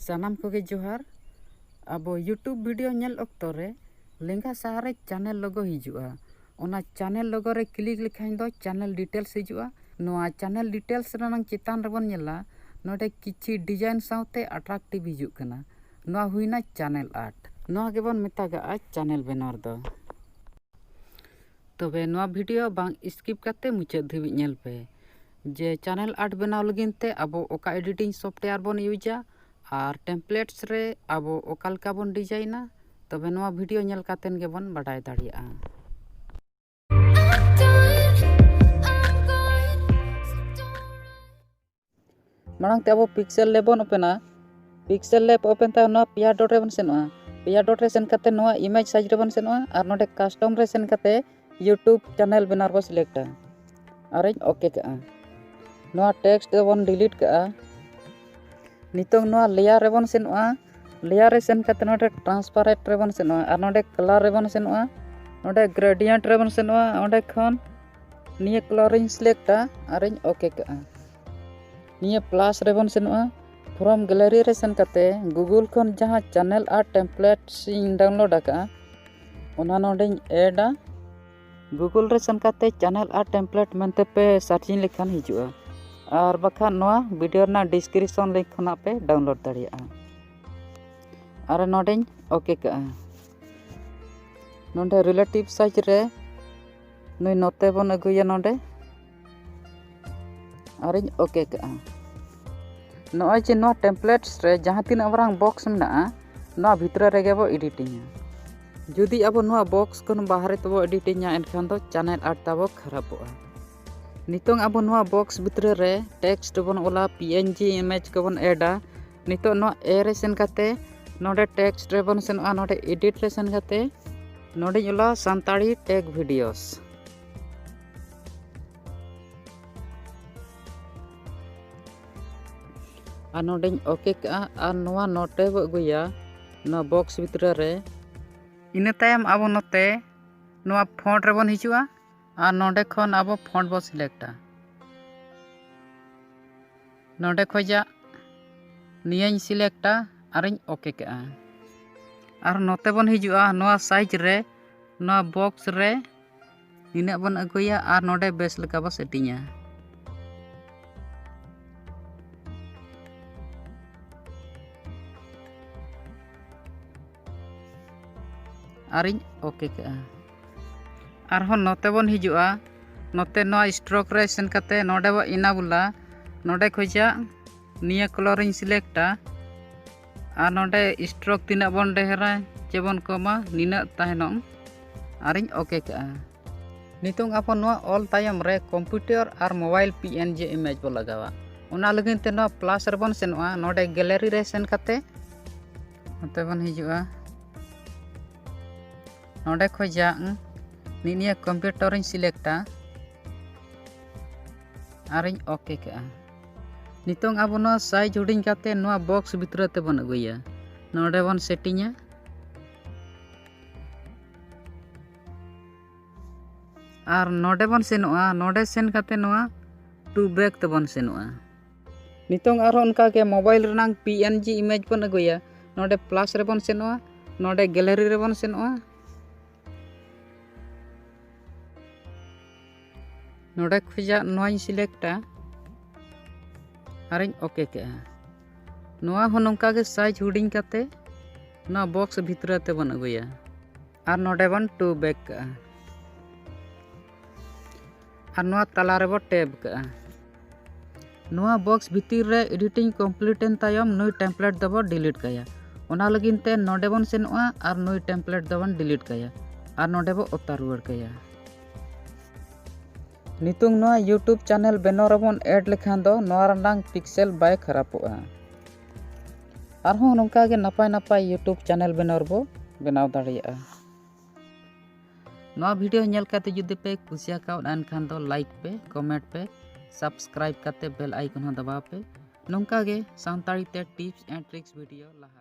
ᱥᱟᱱᱟᱢ ᱠᱚᱜᱮ ᱡᱚᱦᱟᱨ ᱟᱵᱚ ᱭᱩᱴᱩᱵᱽ ᱵᱷᱤᱰᱤᱭᱳ ᱧᱮᱞ ᱚᱠᱛᱚ ᱨᱮ ᱞᱮᱸᱜᱟ ᱥᱟᱦᱟ ᱨᱮ ᱪᱮᱱᱮᱞ ᱞᱳᱜᱳ ᱦᱤᱡᱩᱜᱼᱟ ᱚᱱᱟ ᱪᱮᱱᱮᱞ ᱞᱳᱜᱳ ᱨᱮ ᱠᱞᱤᱠ ᱞᱮᱠᱷᱟᱱ ᱫᱚ ᱪᱮᱱᱮᱞ ᱰᱤᱴᱮᱞᱥ ᱦᱤᱡᱩᱜᱼᱟ ᱱᱚᱣᱟ ᱪᱮᱱᱮᱞ ᱰᱤᱴᱮᱞᱥ ᱨᱮᱱᱟᱜ ᱪᱮᱛᱟᱱ ᱨᱮᱵᱚᱱ ᱧᱮᱞᱟ ᱱᱚᱰᱮ ᱠᱤᱪᱷᱤ ᱰᱤᱡᱟᱭᱤᱱ ᱥᱟᱶᱛᱮ ᱟᱴᱨᱟᱠᱴᱤᱵᱷ ᱦᱤᱡᱩᱜ ᱠᱟᱱᱟ ᱱᱚᱣᱟ ᱦᱩᱭᱱᱟ ᱪᱮᱱᱮᱞ ᱟᱨᱴ ᱱᱚᱣᱟ ᱜᱮᱵᱚᱱ ᱢᱮᱛᱟᱜᱟᱜᱼᱟ ᱪᱮᱱᱮᱞ ᱵᱮᱱᱟᱨ ᱫᱚ ᱛᱚᱵᱮ ᱱᱚᱣᱟ ᱵᱷᱤᱰᱤᱭᱳ ᱵᱟᱝ ᱥᱠᱤᱯ ᱠᱟᱛᱮᱫ ᱢᱩᱪᱟᱹᱫ ᱫᱷᱟᱹᱵᱤᱡ ᱧᱮᱞ ᱯᱮ ᱡᱮ ᱪᱮᱱᱮᱞ ᱟᱨᱴ ᱵᱮᱱᱟᱣ ᱞᱟᱹᱜᱤᱫ ᱛᱮ ᱟᱵᱚ ᱚᱠᱟ ᱮᱰᱤᱴᱤᱝ ᱥᱚᱯᱷᱴᱣᱮᱭᱟᱨ ᱵᱚᱱ ᱤᱭᱩᱡᱟ ᱟᱨ ᱴᱮᱢᱯᱞᱮᱴᱥ ᱨᱮ ᱟᱵᱚ ᱚᱠᱟ ᱞᱮᱠᱟ ᱵᱚᱱ ᱰᱤᱡᱟᱭᱤᱱᱟ ᱛᱚᱵᱮ ᱱᱚᱣᱟ ᱵᱷᱤᱰᱭᱳ ᱧᱮᱞ ᱠᱟᱛᱮᱫ ᱜᱮᱵᱚᱱ ᱵᱟᱰᱟᱭ ᱫᱟᱲᱮᱭᱟᱜᱼᱟ ᱢᱟᱲᱟᱝ ᱛᱮ ᱟᱵᱚ ᱯᱤᱠᱥᱮᱞ ᱞᱮᱵ ᱵᱚᱱ ᱳᱯᱮᱱᱟ ᱯᱤᱠᱥᱮᱞ ᱞᱮᱵ ᱳᱯᱮᱱ ᱛᱟᱭᱚᱢ ᱱᱚᱣᱟ ᱯᱮᱭᱟ ᱰᱚᱴ ᱨᱮᱵᱚᱱ ᱥᱮᱱᱚᱜᱼᱟ ᱯᱮᱭᱟ ᱰᱚᱴ ᱨᱮ ᱥᱮᱱ ᱠᱟᱛᱮ ᱱᱚᱣᱟ ᱤᱢᱮᱡᱽ ᱥᱟᱭᱤᱡᱽ ᱨᱮᱵᱚᱱ ᱥᱮᱱᱚᱜᱼᱟ ᱟᱨ ᱱᱚᱰᱮ ᱠᱟᱥᱴᱚᱢ ᱨᱮ ᱥᱮᱱ ᱠᱟᱛᱮ ᱤᱭᱩᱴᱩᱵᱽ ᱪᱮᱱᱮᱞ ᱵᱮᱱᱟᱨ ᱵᱚᱱ ᱥᱤᱞᱮᱠᱴᱟ ᱟᱨᱤᱧ ᱳᱠᱮ ᱠᱟᱜᱼᱟ ᱱᱚᱣᱟ ᱴᱮᱠᱥᱴ ᱫᱚᱵᱚᱱ ᱰᱤᱞᱤᱴ ᱠᱟᱜᱼᱟ ᱱᱤᱛᱚᱝ ᱱᱚᱣᱟ ᱞᱮᱭᱟᱨ ᱨᱮᱵᱚᱱ ᱥᱮᱱᱚᱜᱼᱟ ᱞᱮᱭᱟᱨ ᱨᱮ ᱥᱮᱱ ᱠᱟᱛᱮᱫ ᱱᱚᱰᱮ ᱴᱨᱟᱱᱥᱯᱟᱨᱮᱴ ᱨᱮᱵᱚᱱ ᱥᱮᱱᱚᱜᱼᱟ ᱟᱨ ᱱᱚᱰᱮ ᱠᱟᱞᱟᱨ ᱨᱮᱵᱚᱱ ᱥᱮᱱᱚᱜᱼᱟ ᱱᱚᱰᱮ ᱜᱨᱮᱰᱤᱭᱮᱱᱴ ᱨᱮᱵᱚᱱ ᱥᱮᱱᱚᱜᱼᱟ ᱚᱸᱰᱮ ᱠᱷᱚᱱ ᱱᱤᱭᱟᱹ ᱠᱟᱞᱟᱨᱤᱧ ᱥᱤᱞᱮᱠᱴᱟ ᱟᱨᱤᱧ ᱳᱠᱮ ᱠᱟᱜᱼᱟ ᱱᱤᱭᱟᱹ ᱯᱞᱟᱥ ᱨᱮᱵᱚᱱ ᱥᱮᱱᱚᱜᱼᱟ ᱯᱷᱨᱚᱢ ᱜᱮᱞᱟᱨᱤ ᱨᱮ ᱥᱮᱱ ᱠᱟᱛᱮᱫ ᱜᱩᱜᱩᱞ ᱠᱷᱚᱱ ᱡᱟᱦᱟᱸ ᱪᱮᱱᱮᱞ ᱟᱨ ᱴᱮᱢᱯᱞᱮᱴᱥ ᱤᱧ ᱰᱟᱣᱩᱱᱞᱳᱰ ᱟᱠᱟᱫᱼᱟ ᱚᱱᱟ ᱱᱚᱰᱮᱧ ᱮᱰᱟ ᱜᱩᱜᱩᱞ ᱨᱮ ᱥᱮᱱ ᱠᱟᱛᱮ ᱪᱮᱱᱮᱞ ᱟᱨ ᱴᱮᱢᱯᱞᱮᱴ ᱢᱮᱱᱛᱮ ᱯᱮ ᱥᱟᱨᱪᱤᱝ ᱞᱮᱠᱷᱟᱱ ᱦᱤᱡᱩᱜᱼᱟ ᱟᱨ ᱵᱟᱠᱷᱟᱱ ᱱᱚᱣᱟ ᱵᱷᱤᱰᱤᱭᱳ ᱨᱮᱱᱟᱜ ᱰᱤᱥᱠᱨᱤᱯᱥᱚᱱ ᱞᱤᱝᱠ ᱠᱷᱚᱱᱟᱜ ᱯᱮ ᱰᱟᱣᱩᱱᱞᱳᱰ ᱫᱟᱲᱮᱭᱟᱜᱼᱟ ᱟᱨ ᱱᱚᱰᱮᱧ ᱳᱠᱮ ᱠᱟᱜᱼᱟ ᱱᱚᱰᱮ ᱨᱤᱞᱮᱴᱤᱵᱽ ᱥᱟᱨᱪ ᱨᱮ ᱱᱩᱭ ᱱᱚᱛᱮ ᱵᱚᱱ ᱟᱹᱜᱩᱭᱟ ᱱᱚᱰᱮ ᱟᱨᱤᱧ ᱳᱠᱮ ᱠᱟᱜᱼᱟ ᱱᱚᱜᱼᱚᱭ ᱡᱮ ᱱᱚᱣᱟ ᱴᱮᱢᱯᱞᱮᱴᱥ ᱨᱮ ᱡᱟᱦᱟᱸ ᱛᱤᱱᱟᱹᱜ ᱢᱟᱨᱟᱝ ᱵᱚᱠᱥ ᱢᱮᱱᱟᱜᱼᱟ ᱱᱚᱣᱟ ᱵᱷᱤᱛᱨᱤ ᱨᱮᱜᱮ ᱵᱚ ᱮᱰᱤᱴᱤᱝᱟ ᱡᱩᱫᱤ ᱟᱵᱚ ᱱᱚᱣᱟ ᱵᱚᱠᱥ ᱠᱷᱚᱱ ᱵᱟᱦᱨᱮ ᱛᱮᱵᱚ ᱮᱰᱤᱴᱤᱝᱟ ᱮᱱᱠᱷᱟᱱ ᱫᱚ ᱪᱮᱱᱮᱞ ᱟᱨᱴ ᱛᱟᱵᱚ ᱠᱷᱟᱨᱟᱯᱚᱜᱼᱟ ᱱᱤᱛᱚᱝ ᱟᱵᱚ ᱱᱚᱣᱟ ᱵᱚᱠᱥ ᱵᱷᱤᱛᱨᱤ ᱨᱮ ᱴᱮᱠᱥᱴ ᱵᱚᱱ ᱚᱞᱟ ᱯᱤ ᱮᱱ ᱡᱤ ᱤᱢᱮᱡᱽ ᱠᱚᱵᱚᱱ ᱮᱰᱟ ᱱᱤᱛᱚᱜ ᱱᱚᱣᱟ ᱮ ᱨᱮ ᱥᱮᱱ ᱠᱟᱛᱮ ᱱᱚᱰᱮ ᱴᱮᱠᱥᱴ ᱨᱮᱵᱚᱱ ᱥᱮᱱᱚᱜᱼᱟ ᱱᱚᱰᱮ ᱮᱰᱤᱴ ᱨᱮ ᱥᱮᱱ ᱠᱟᱛᱮ ᱱᱚᱰᱮᱧ ᱚᱞᱟ ᱥᱟᱱᱛᱟᱲᱤ ᱴᱮᱠ ᱵᱷᱤᱰᱤᱭᱳᱥ ᱟᱨ ᱱᱚᱰᱮᱧ ᱳᱠᱮ ᱠᱟᱜᱼᱟ ᱟᱨ ᱱᱚᱣᱟ ᱱᱚᱴᱮ ᱵᱚ ᱟᱹᱜᱩᱭᱟ ᱱᱚᱣᱟ ᱵᱚᱠᱥ ᱵᱷᱤᱛᱨᱤ ᱨᱮ ᱤᱱᱟᱹ ᱛᱟᱭᱚᱢ ᱟᱵᱚ ᱱᱚᱛᱮ ᱱᱚᱣᱟ ᱯᱷᱚᱱᱴ ᱨᱮᱵᱚᱱ ᱦᱤᱡᱩᱜᱼᱟ ᱟᱨ ᱱᱚᱰᱮ ᱠᱷᱚᱱ ᱟᱵᱚ ᱯᱷᱚᱱᱴ ᱵᱚᱱ ᱥᱤᱞᱮᱠᱴᱟ ᱱᱚᱰᱮ ᱠᱷᱚᱡᱟᱜ ᱱᱤᱭᱟᱹᱧ ᱥᱤᱞᱮᱠᱴᱟ ᱟᱨᱤᱧ ᱳᱠᱮ ᱠᱟᱜᱼᱟ ᱟᱨ ᱱᱚᱛᱮ ᱵᱚᱱ ᱦᱤᱡᱩᱜᱼᱟ ᱱᱚᱣᱟ ᱥᱟᱭᱤᱡᱽ ᱨᱮ ᱱᱚᱣᱟ ᱵᱚᱠᱥ ᱨᱮ ᱱᱤᱱᱟᱹᱜ ᱵᱚᱱ ᱟᱹᱜᱩᱭᱟ ᱟᱨ ᱱᱚᱰᱮ ᱵᱮᱥ ᱞᱮᱠᱟ ᱵᱚ ᱥᱮᱴᱤᱝᱟ ᱟᱨᱤᱧ ᱳᱠᱮ ᱠᱟᱜᱼᱟ ᱟᱨᱦᱚᱸ ᱱᱚᱛᱮ ᱵᱚᱱ ᱦᱤᱡᱩᱜᱼᱟ ᱱᱚᱛᱮ ᱱᱚᱣᱟ ᱥᱴᱨᱳᱠ ᱨᱮ ᱥᱮᱱ ᱠᱟᱛᱮ ᱱᱚᱰᱮ ᱵᱚ ᱤᱱᱟᱵᱩᱞᱟ ᱱᱚᱰᱮ ᱠᱷᱚᱡᱟᱜ ᱱᱤᱭᱟᱹ ᱠᱚᱞᱚᱨᱤᱧ ᱥᱤᱞᱮᱠᱴᱟ ᱟᱨ ᱱᱚᱰᱮ ᱥᱴᱨᱳᱠ ᱛᱤᱱᱟᱹᱜ ᱵᱚᱱ ᱰᱷᱮᱨᱟ ᱪᱮ ᱵᱚᱱ ᱠᱚᱢᱟ ᱱᱤᱱᱟᱹᱜ ᱛᱟᱭᱱᱚᱢ ᱟᱨᱤᱧ ᱳᱠᱮ ᱠᱟᱜᱼᱟ ᱱᱤᱛᱚᱝ ᱟᱵᱚ ᱱᱚᱣᱟ ᱚᱞ ᱛᱟᱭᱚᱢ ᱨᱮ ᱠᱚᱢᱯᱤᱭᱩᱴᱟᱨ ᱟᱨ mobile P N G image ᱵᱚ ᱞᱟᱜᱟᱣᱟ ᱚᱱᱟ ᱞᱟᱹᱜᱤᱫ ᱛᱮ ᱱᱚᱣᱟ ᱯᱞᱟᱥ ᱨᱮᱵᱚᱱ ᱥᱮᱱᱚᱜᱼᱟ ᱱᱚᱰᱮ ᱜᱮᱞᱟᱨᱤ ᱨᱮ ᱥᱮᱱ ᱠᱟᱛᱮ ᱱᱚᱛᱮ ᱵᱚᱱ ᱦᱤᱡᱩᱜᱼᱟ ᱱᱚᱰᱮ ᱠᱷᱚᱡᱟᱜ ᱱᱤᱭᱟᱹ ᱠᱚᱢᱯᱤᱭᱩᱴᱟᱨᱤᱧ ᱥᱤᱞᱮᱠᱴᱟ ᱟᱨᱤᱧ ᱳᱠᱮ ᱠᱟᱜᱼᱟ ᱱᱤᱛᱚᱝ ᱟᱵᱚ ᱱᱚᱣᱟ ᱥᱟᱭᱤᱡᱽ ᱦᱩᱰᱤᱧ ᱠᱟᱛᱮ ᱱᱚᱣᱟ ᱵᱚᱠᱥ ᱵᱷᱤᱛᱨᱤ ᱛᱮᱵᱚᱱ ᱟᱹᱜᱩᱭᱟ ᱱᱚᱰᱮ ᱵᱚᱱ ᱥᱮᱴᱤᱝᱟ ᱟᱨ ᱱᱚᱰᱮ ᱵᱚᱱ ᱥᱮᱱᱚᱜᱼᱟ ᱱᱚᱰᱮ ᱥᱮᱱ ᱠᱟᱛᱮ ᱱᱚᱣᱟ ᱴᱩ ᱵᱨᱮᱠ ᱛᱮᱵᱚᱱ ᱥᱮᱱᱚᱜᱼᱟ ᱱᱤᱛᱚᱝ ᱟᱨᱦᱚᱸ ᱚᱱᱠᱟᱜᱮ ᱢᱳᱵᱟᱭᱤᱞ ᱨᱮᱱᱟᱝ ᱯᱤ ᱮᱱ ᱡᱤ ᱤᱢᱮᱡᱽ ᱵᱚᱱ ᱟᱹᱜᱩᱭᱟ ᱱᱚᱰᱮ ᱯᱞᱟᱥ ᱨᱮᱵᱚᱱ ᱥᱮᱱᱚᱜᱼᱟ ᱱᱚᱰᱮ ᱜᱮᱞᱟᱨᱤ ᱨᱮᱵᱚᱱ ᱥᱮᱱᱚᱜᱼᱟ ᱱᱚᱰᱮ ᱠᱷᱚᱡᱟᱜ ᱱᱚᱣᱟᱧ ᱥᱤᱞᱮᱠᱴᱟ ᱟᱨᱤᱧ ᱳᱠᱮ ᱠᱮᱜᱼᱟ ᱱᱚᱣᱟ ᱦᱚᱸ ᱱᱚᱝᱠᱟ ᱜᱮ ᱥᱟᱭᱤᱡᱽ ᱦᱩᱰᱤᱧ ᱠᱟᱛᱮ ᱱᱚᱣᱟ ᱵᱚᱠᱥ ᱵᱷᱤᱛᱨᱤ ᱛᱮᱵᱚᱱ ᱟᱹᱜᱩᱭᱟ ᱟᱨ ᱱᱚᱰᱮ ᱵᱚᱱ ᱴᱩ ᱵᱮᱠ ᱠᱟᱜᱼᱟ ᱟᱨ ᱱᱚᱣᱟ ᱛᱟᱞᱟ ᱨᱮᱵᱚ ᱴᱮᱯ ᱠᱟᱜᱼᱟ ᱱᱚᱣᱟ ᱵᱚᱠᱥ ᱵᱷᱤᱛᱤᱨ ᱨᱮ ᱮᱰᱤᱴᱤᱝ ᱠᱚᱢᱯᱞᱤᱴ ᱮᱱ ᱛᱟᱭᱚᱢ ᱱᱩᱭ ᱴᱮᱢᱯᱞᱮᱴ ᱫᱚᱵᱚ ᱰᱤᱞᱤᱴ ᱠᱟᱭᱟ ᱚᱱᱟ ᱞᱟᱹᱜᱤᱫ ᱛᱮ ᱱᱚᱰᱮ ᱵᱚᱱ ᱥᱮᱱᱚᱜᱼᱟ ᱟᱨ ᱱᱩᱭ ᱴᱮᱢᱯᱞᱮᱴ ᱫᱚᱵᱚᱱ ᱰᱤᱞᱤᱴ ᱠᱟᱭᱟ ᱟᱨ ᱱᱚᱰᱮ ᱵᱚ ᱚᱛᱟ ᱨᱩᱣᱟᱹᱲ ᱠᱟᱭᱟ ᱱᱤᱛᱚᱝ ᱱᱚᱣᱟ ᱭᱩᱴᱩᱵᱽ ᱪᱮᱱᱮᱞ ᱵᱮᱱᱟᱣ ᱨᱮᱵᱚᱱ ᱮᱰ ᱞᱮᱠᱷᱟᱱ ᱫᱚ ᱱᱚᱣᱟ ᱨᱮᱱᱟᱝ ᱯᱤᱠᱥᱮᱞ ᱵᱟᱭ ᱠᱷᱟᱨᱟᱯᱚᱜᱼᱟ ᱟᱨᱦᱚᱸ ᱱᱚᱝᱠᱟ ᱜᱮ ᱱᱟᱯᱟᱭ ᱱᱟᱯᱟᱭ ᱭᱩᱴᱩᱵᱽ ᱪᱮᱱᱮᱞ ᱵᱮᱱᱟᱣ ᱨᱮᱵᱚ ᱵᱮᱱᱟᱣ ᱫᱟᱲᱮᱭᱟᱜᱼᱟ ᱱᱚᱣᱟ ᱵᱷᱤᱰᱤᱭᱳ ᱧᱮᱞ ᱠᱟᱛᱮ ᱡᱩᱫᱤ ᱯᱮ ᱠᱩᱥᱤ ᱟᱠᱟᱣᱫ ᱮᱱᱠᱷᱟᱱ ᱫᱚ ᱞᱟᱭᱤᱠ ᱯᱮ ᱠᱚᱢᱮᱱᱴ ᱯᱮ ᱥᱟᱵᱥᱠᱨᱟᱭᱤᱵ ᱠᱟᱛᱮ ᱵᱮᱞ ᱟᱭᱠᱚᱱ ᱦᱚᱸ ᱫᱟᱵᱟᱣ ᱯᱮ ᱱᱚᱝᱠᱟ ᱜᱮ ᱥᱟᱱᱛᱟᱲᱤ ᱛᱮ ᱴᱤᱯᱥ ᱮᱱᱰ ᱴᱨᱤᱠᱥ ᱵᱷᱤᱰᱤᱭᱳ ᱞᱟᱦᱟ